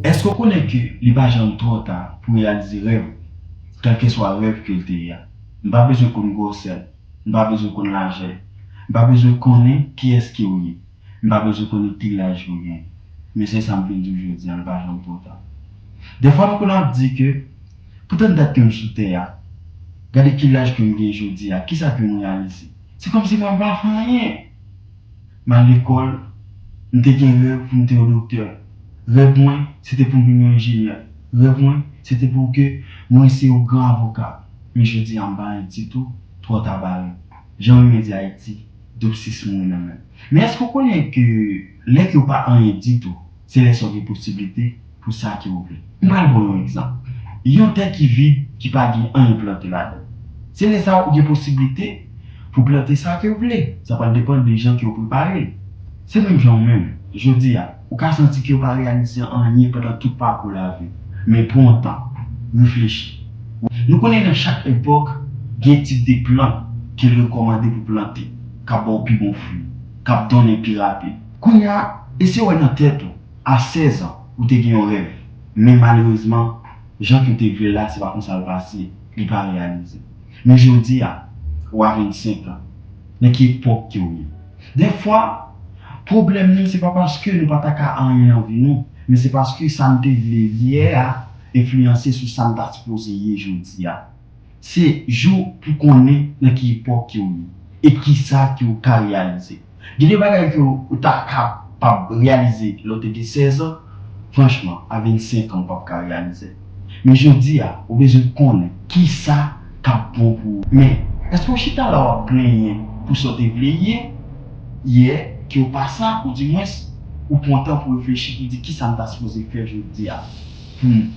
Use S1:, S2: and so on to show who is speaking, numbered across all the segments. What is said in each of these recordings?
S1: Èske w konnen ke li pa janm twò ta pou reyalize rèv ou? Kèlkeswa rèv ke l te ye a. M pa bezwen konn gwòsè l. M pa bezwen konn lajè l. M pa bezwen konnen kiyès ke w ye. M pa bezwen konnen ki laj ke w genyen. Men se sa m vin di w jodi a, li pa janm twò ta. Dèfwa nou konn ap di ke, Pou tant dat ke m sou tè a, gade ki laj ke m genyen jodi a, kisa ke m reyalize? Se kòmsi mwen pa fè anyen! M al lekòl, m te gen rèv pou m te yon doktè. Rèv mwen, se te pou m vin yon enjenyè. Rèv mwen, se te pou ke mwen se yon gran avoka. Men jodi a m pa anyen ditou, twò ta bare. Jan renmen di Ayiti, doub sis mouri nan men. Men èske ou konnen ke lè ke ou pa anyen ditou, Se lè sa w gen posiblite pou sa ke w vle. M pral ba w yon egzanp. Yon tè ki vid, ki pa gen anyen plante ladan l. Se lè sa w gen posiblite pou w plante sa ke w vle. Sa pral depann de jan ke w prepare l. Se menm jan ou menm. Jodi a, ou ka santi ke w pa reyalize anyen pandan tout pakou lavi w. Men pran w tan. Reflechi. Nou konnen nan chak epòk, gen tip de plant ke l rekòmande pou w plante, k ap ba w pi bon fwi, k ap donnen pi rapid. Kounye a, eseye wè nan tèt ou, a 16 an, ou te gen yon rèv, men malerezman, jan ke w te vle l la, se pa konsa l pase, li pa reyalize. Men jodi a, ou a 25 an, nan ki epòk ke w ye? Dèfwa, pwoblèm nou se pa paske nou pa ta ka anyen nan vi nou, men se paske sa n te vle yè a enfliyanse sou sa n ta sipoze ye jodi a. Se jou pou konnen nan ki epòk ke ou ye e kisa ke ou ka reyalize. Gen de bagay ke ou ta ka pab reyalize lè ou te gen 16 an, franchman a 25 an ou pap ka reyalizel. Men jodi a ou bezwen konnen kisa kap bon pou ou. Men, eske ou chita la wap plenyen pou sa ou te vle ye yè ke ou pa sa ou di mwens ou pran tan pou reflechi pou di kisa m ta sipoze fè jodi a poum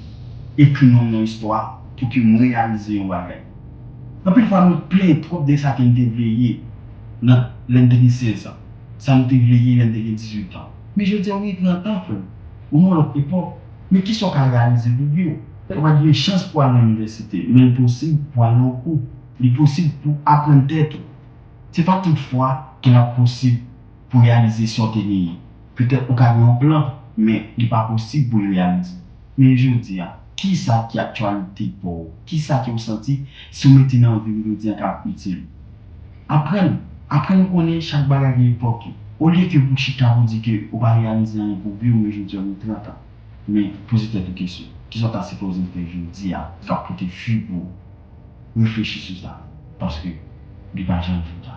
S1: ekri non m nan istwa. Pou ke m reyalize yon bagay. Anpil fwa nou plenyen twòp de sa ke n te vle ye nan lè n te gen 16 an, sa nou te vle ye lè n te gen 18 an. Men jodi a ou gen 30 an frè m, ou nan yon lòt epòk, men kisa ou ka reyalize pou vi w? Ou ka pa t gen chans pou w al nan inivèsite, men li posib pou w al nan yon kou, li posib pou w aprann tèt ou. Se pa tout fwa ke l ap posib. Pou reyalize sa w te genyen. Petèt ou ka gen yon plan, men li pa posib pou l reyalize. Men jodi a, kisa ki aktyalite pa w? Kisa ke w santi si w mete nan vi w jodi a kap itil ou? Aprann, aprann konnen chak bagay gen epòk li. Olye ke pou chita pou di ke ou pa reyalize anyen pou vi w men jodi a ou gen 30 an. Men, poze tèt ou kesyon. Kisa w ta sipoze fè jodi a kap pote fwi pou ou? Reflechi sou sa. Paske li pa janm twò ta.